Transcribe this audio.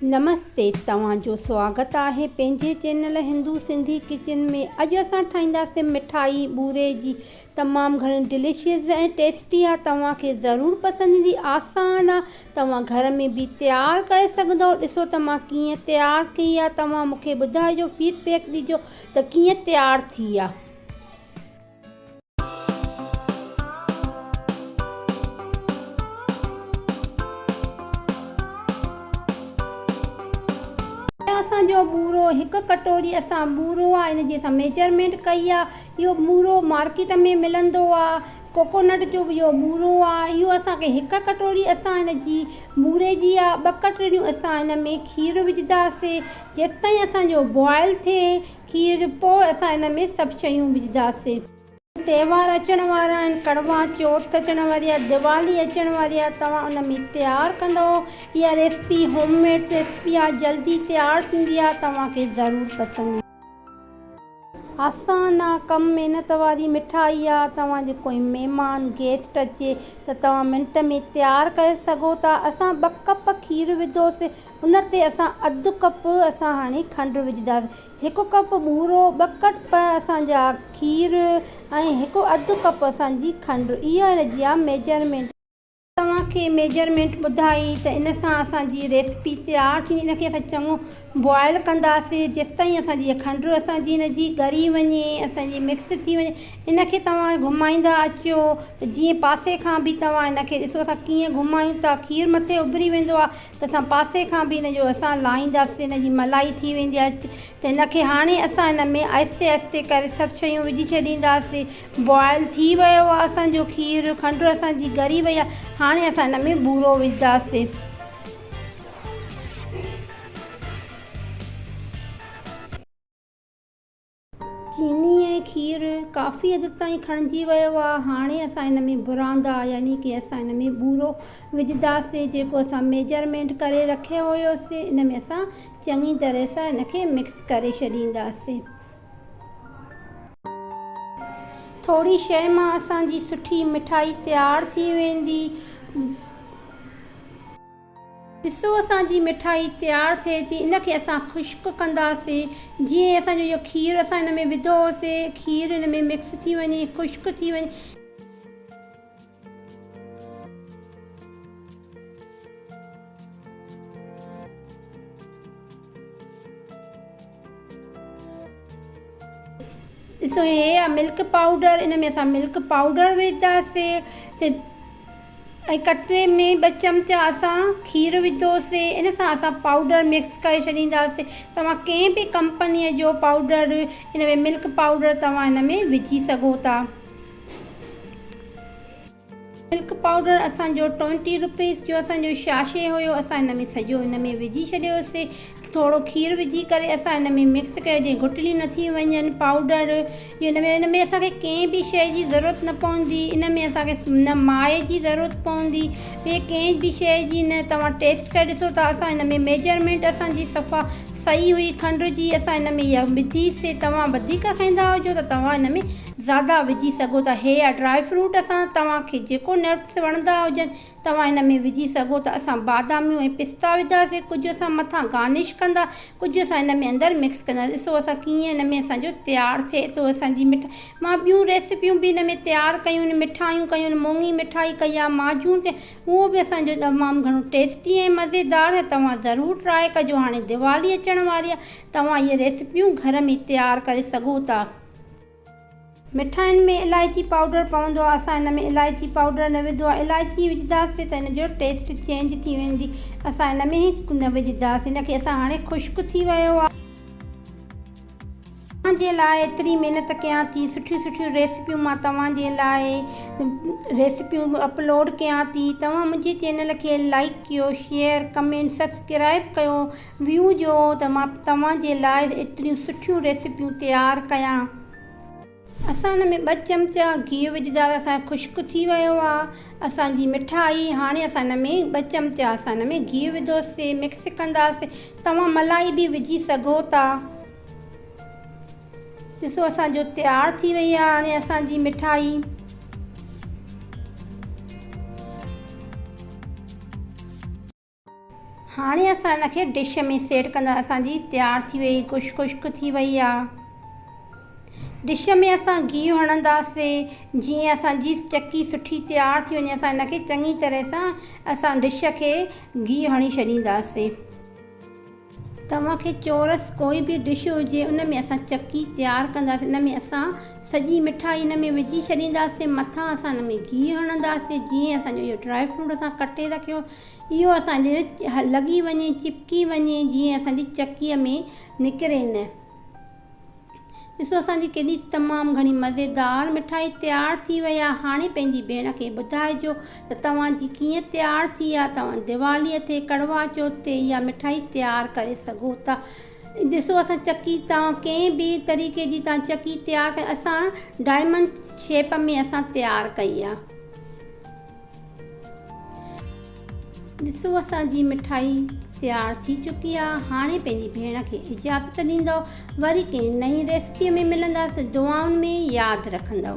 نمستي توهان جو سواگت آهي پنهنجي چينل هندو سنڌي ڪچن ۾ اڄ اسان ٺاهينداسين مٺائي ٻوري جي تمام گهڻي ڊليشيس ۽ ٽيسٽي آهي توهان کي ضرور پسند ايندي آسان آهي توهان گهر ۾ به تيار ڪري سگهندؤ ڏسو ته مان ڪيئن تيار ڪئي آهي توهان مونکي ٻڌائجو فيڊ بيڪ ڏجو ته ڪيئن تيار ٿي آهي. هي اسان جو ٻورو هڪ ڪٽوري اسان ٻورو آ ان جي اسان ميجرمينٽ ڪئي آ اهو ٻورو مارڪيٽ ۾ ملندو آ ڪوڪونٽ جو به اهو ٻورو آ اهو اسان کي هڪ ڪٽوري اسان ان جي ٻوري جي آ ٻه ڪٽوريون اسان ان ۾ کير وجهداسي جيستائين اسان جو بوائل ٿئي کير جو پوء اسان ان ۾ سڀ شيون وجهنداسين. تهوار اچڻ وارا آهن، ڪڙوا چوٿ اچڻ واري آهي، ديوالي اچڻ واري آهي، توهان ان ۾ تيار ڪندو؟ اها ريسپي هوم ميڊ ريسپي آهي، جلدي تيار ٿيندي آهي، توهان کي ضرور پسند ايندي. آسان آهي، ڪم محنت واري مٺائي آهي، توهان جو ڪوئي مهمان، گيسٽ، اچي ته توهان منٽ ۾ تيار ڪري سگهو ٿا، اسان ٻه ڪپ کير وڌوسين، ان تي اسان اڌ ڪپ اسان هاڻي کنڊ وجهنداسين هڪ ڪپ ٻورو ٻه ڪپ اسان جا کير ۽ هڪ اڌ ڪپ اسان جي کنڊ اها هن جي آ ميجرمينٽ آهي. توهان کي ميجرمينٽ ٻڌائي ته ان سان اسان جي ريسپي تيار ٿيندي ان کي اسان چڱو بوائل ڪنداسين جيستائين اسان جي کنڊ اسان جي هن جي ڳري وڃي اسان جي مڪس ٿي وڃي ان کي توهان گهمائيندا اچو ته جيئن پاسي کان به توهان ان کي ڏسو اسان ڪيئن گهمايون ٿا کير مٿي اڀري ويندو آهي ته اسان پاسي کان به ان جو اسان لاهينداسين ان جي ملائي ٿي ويندي آهي ته ان کي هاڻي اسان ان ۾ آهستي آهستي ڪري سڀ شيون وجهي ڇڏينداسي بوائل ٿي ويو آهي اسان جو کير کنڊ اسان جي ڳري وئي آهي هاڻي اسان ان ۾ ٻورو وجهنداسين. چيني ۽ کير ڪافي حد تائين کڻجي ويو آ هاڻي اسان ان ۾ براندا يعني ڪي اسان ان ۾ بورو وجهداسين جيڪو اسان ميجرمينٽ ڪري رکيو هيوسين ان ۾ اسان چڱي طرح سان ان کي مڪس ڪري ڇڏينداسين ٿوري شئي مان اسان جي سٺي مٺائي تيار ٿي ويندي. ڏسو اسان جي مٺائي تيار ٿئي ٿي ان کي اسان خشڪ ڪنداسين جيئن ئي اسان جو اهو کير اسان ان ۾ وڌو هوسي کير ان ۾ مڪس ٿي وڃي خشڪ ٿي وڃي. ڏسو هي آ ملڪ پائوڊر ان ۾ اسان ملڪ پائوڊر وجهنداسي ۽ ڪٽري ۾ ٻه چمچا اسان کير وجهندوسي ان سان اسان پائوڊر مڪس ڪري ڇڏينداسي توهان ڪنهن به ڪمپني جو پائوڊر ان ۾ ملڪ پائوڊر توهان ان ۾ وجهي سگهو ٿا ملڪ پائوڊر اسان جو ٽوئنٽي روپيز جو اسان جو شاشي هيو اسان ان ۾ سڄو ان ۾ وجهي ڇڏيو سي ٿورو کير وجهي ڪري اسان ان ۾ مڪس ڪيو جي گهٽليون نه ٿي وڃن پائوڊر جي ان ۾ ان ۾ اسان کي ڪنهن به شي جي ضرورت نه پوندي ان ۾ اسان کي نه مائي جي ضرورت پوندي ٻي ڪنهن به شي جي نه توهان ٽيسٽ ڪري ڏسو ته اسان ان ۾ ميجرمينٽ اسان جي صفا صحيح هئي کنڊ جي اسان ان ۾ اها وڌي سي توهان وڌيڪ کائيندا هجو ته توهان ان ۾ زياده وجهي سگهو ٿا هي يا ڊرائي فروٽ سان توهان کي جيڪو نٽس وڻندا هجن توهان هن ۾ وجهي سگهو ٿا اسان باداميون ۽ پستا وڌا سي ڪجهه اسان مٿان گارنش ڪندا ڪجهه اسان هن ۾ اندر مڪس ڪندا ڏسو اسان ڪيئن هن ۾ اسان جو تيار ٿئي ٿو اسان جي مٺ مان ٻيون ريسيپيون به هن ۾ تيار ڪيون آهن مٺايون ڪيون آهن مونڱي مٺائي ڪئي آهي ماجون ڪئي اهو به اسان جو تمام گهڻو ٽيسٽي ۽ مزيدار هي توهان ضرور ٽرائي ڪجو هاڻي ديوالي اچڻ واري آهي توهان اهي ريسيپيون گهر ۾ تيار ڪري سگهو ٿا. مٺاين ۾ الائچي پائوڊر پوندو آهي اسان هن ۾ الائچي پائوڊر نه وڌو آهي الائچي وجهداسين ته هن جو ٽيسٽ چينج ٿي ويندي اسان هن ۾ نه وجهداسين هن کي اسان هاڻي خشڪ ٿي ويو آهي. توهان جي لاء ايتري محنت ڪيان ٿي سٺيون سٺيون ريسيپيون مان توهان جي لاء ريسيپيون اپلوڊ ڪيان ٿي توهان منهنجي چينل کي لائڪ ڪيو شيئر ڪمينٽ سبسڪرائب ڪيو ويو جو ته مان توهان جي لاء ايتريون سٺيون ريسيپيون تيار ڪيان. اسان ان ۾ ٻه چمچا گيهه وجهدا ته اسان جو خشڪ ٿي ويو آ اسان جي مٺائي هاڻي اسان ان ۾ ٻه چمچا اسان ان ۾ گيهه وڌو سي مڪس ڪنداسي توهان ملائي به وجهي سگهو ٿا ڏسو اسان جو تيار ٿي وئي آ هاڻي اسان جي مٺائي. هاڻي اسان ان کي ڊش ۾ سيٽ ڪندا اسان جي تيار ٿي وئي گوشت خشڪ ٿي وئي آ ڊش ۾ اسان گيهه هڻنداسين جيئن اسان جي چڪي سٺي تيار ٿي وڃي اسان ان کي چڱي طرح سان اسان ڊش کي گيهه هڻي ڇڏينداسين. توهان کي چورس ڪوئي به ڊش هجي ان ۾ اسان چڪي تيار ڪنداسين ان ۾ اسان سڄي مٺائي ان ۾ وجهي ڇڏينداسين مٿان اسان ان ۾ گيهه هڻنداسين جيئن اسان جو اهو ڊرائي فروٽ اسان ڪٽي رکيو اهو اسان جي لڳي وڃي چپڪي وڃي جيئن اسان جي چڪي ۾ نڪري نه. ڏسو اسان جي ڪيڏي تمام گهڻي مزيدار مٺائي تيار ٿي وئي آهي هاڻي پنهنجي ڀيڻ کي ٻڌائجو ته توهان جي ڪيئن تيار ٿي آهي توهان ديوالي تي ڪڙوا چوٿ تي اها مٺائي تيار ڪري سگهو ٿا ڏسو اسان چڪي توهان ڪنهن به طريقي جي توهان چڪي تيار ڪئي اسان ڊائمنڊ شيپ ۾ اسان تيار ڪئي آهي ڏسو اسان جي مٺائي تيار ٿي چڪي آ هاڻي پنهنجي ڀيڻ کي اجازت ڏيندو وري ڪنهن نئين ريسپي ۾ ملنداس دعائن ۾ ياد رکندو.